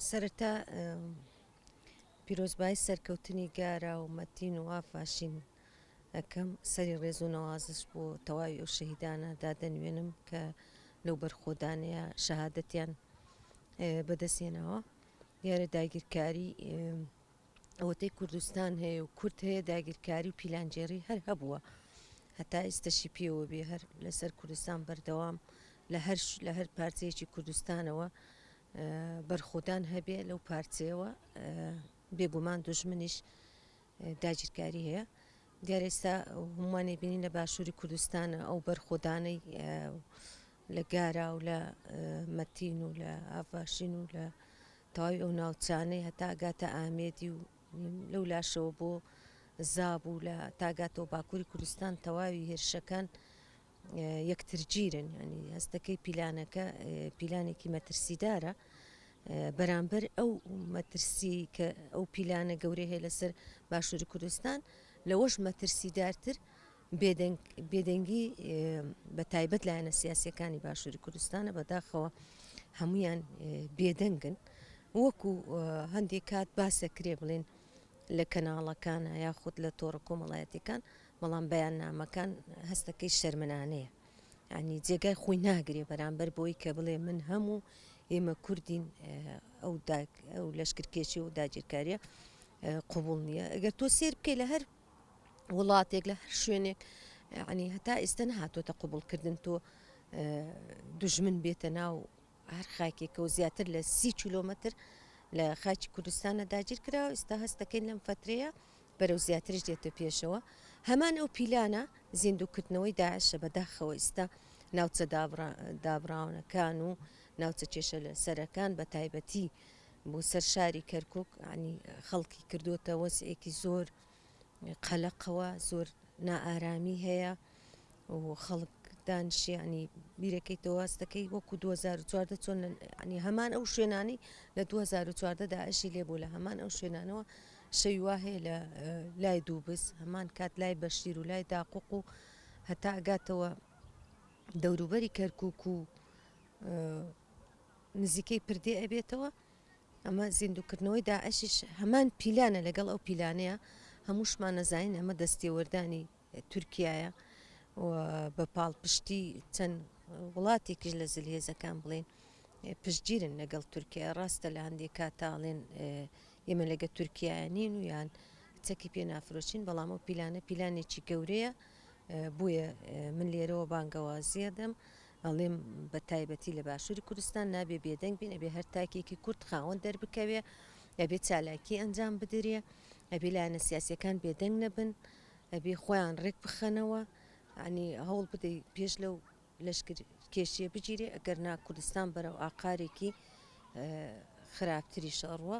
سەرەتا پیرۆزبایی سەرکەوتنی گارا و مەتین و ئافاشین ئەکەم سەری ڕێز و نەوازش بۆ تەواوی ئەو شەهیدانە دادەنوێنم کە لەو بەرخۆدانەیە شەهادەتیان بەدەستێنەوە دیارە داگیرکاری ئەوەتەی کوردستان هەیە و کورد هەیە داگیرکاری و پیلانگێڕی هەر هەبووە هەتا ئیستەشی پێوە بێ هەر لەسەر کوردستان بەردەوام لە هەر لە هەر پارچەیەکی کوردستانەوە بەرخۆدان هەبێ لەو پارچەیەوە بێگومان دژمنیش داگیرکاری هەیە دیارێستا هەمووانی بینین لە باشووری کوردستان ئەو بەرخۆدانەی لە گارا و لە مەتین و لە ئافاشین و لە تەواوی ئەو ناوچانەی هەتا ئەگاتە ئامێدی و لەولاشەوە بۆ زاب و لە تاگاتەوە باکووری کوردستان تەواوی هێرشەکان یەکترگیرن ینی هەستەکەی پیلانەکە پیلانێکی مەترسیدارە بەرامبەر ئەو مەترسی کە ئەو پیلانە گەورەیە لەسەر باشووری کوردستان لەوەش مەترسیدارتر بێدەنگی بە تایبەت لایەنە سیاسیەکانی باشووری کوردستانە بەداخەوە هەمویان بێدەنگن وەکو هەندێک کات باسە کرێ بڵێن لە کەناڵەکانە یاخود لە تۆڕە کۆمەڵایەتەکان بەڵام بەیان نامەکان هەستەکەی شەرمنانەیە ینی جێگای خۆی ناگرێ بەرامبەر بۆی کە بڵێ من هەموو ئێمە کوردین ئەو لەشکرکێشی و داگیرکاریە قوبول نییە ئەگەر تۆ سێر بکەی لە هەر وڵاتێک لە هەر شوێنێک عنی هەتا ئیستا نهاتۆتە قوبڵکردن تۆ دژمن بێتە ناو هەر خاکێکە و زیاتر لە سی کیلۆمەتر لە خاکی کوردستانە داگیر کراوە ئستا هەستەکەین لەم فترەیە بەرەو زیاترش دێتە پێشەوە هەمان ئەو پیلانە زیندوکردنەوەی داعشە بەداخەوە ئستا ناوچە دابراونەکان و ناوچە کێشە لە سەرەکان بە تایبەتی بۆ سەر شاری کەرکوک یانی خەڵکی کردووەتە وەزعێکی زۆر قەلەقەوە زۆر نائارامی هەیە و خەڵک دانشیانی بیرەکەی تەواستەکەی وەکو 2014 چۆن ینی هەمان ئەو شوێنانی لە 2014 داعشی لێبوو لە هەمان ئەو شوێنانەوە شەویوا هەیە لە لای دووبس هەمان کات لای بەشیر و لای داقوق و هەتا ئەگاتەوە دەوروبەری کەرکک و نزیکەی پردێ ئەبێتەوە ئەمە زیندووکردنەوەی داعشیش هەمان پیلانە لەگەڵ ئەو پیلانەیە هەمووشمان نەزانین ئەمە دەستێوەردانی تورکایە بە پاڵپشتی چەند وڵاتێکیش لە زلهێزەکان بڵێن پشتگیرن لەگەڵ تورکیا ڕاستە لە هەندێک کاتاڵێن ئێمە لەگە تورکیا نین و یان چەکی پێ نافرۆشین بەڵام ئەو پیلانە پیلانێکی گەورەیە بۆیە من لێرەوە بانگەوازیە دەم ئەڵێم بە تایبەتی لە باشوری کوردستان نابێ بێدەنگ بین ئەبێ هەر تاکێکی کورد خاوەن دەربکەوێ ئەبێ چالاکی ئەنجام بدرێ ئەبێ لایەنە سیاسیەکان بێدەنگ نەبن ئەبێ خۆیان ڕێک بخەنەوە عنی هەوڵ بدەی پێش لەو لەشکر کێشیە بگیرێ ئەگەر نا کوردستان بەرەو ئاقارێکی خراپتری شەڕوە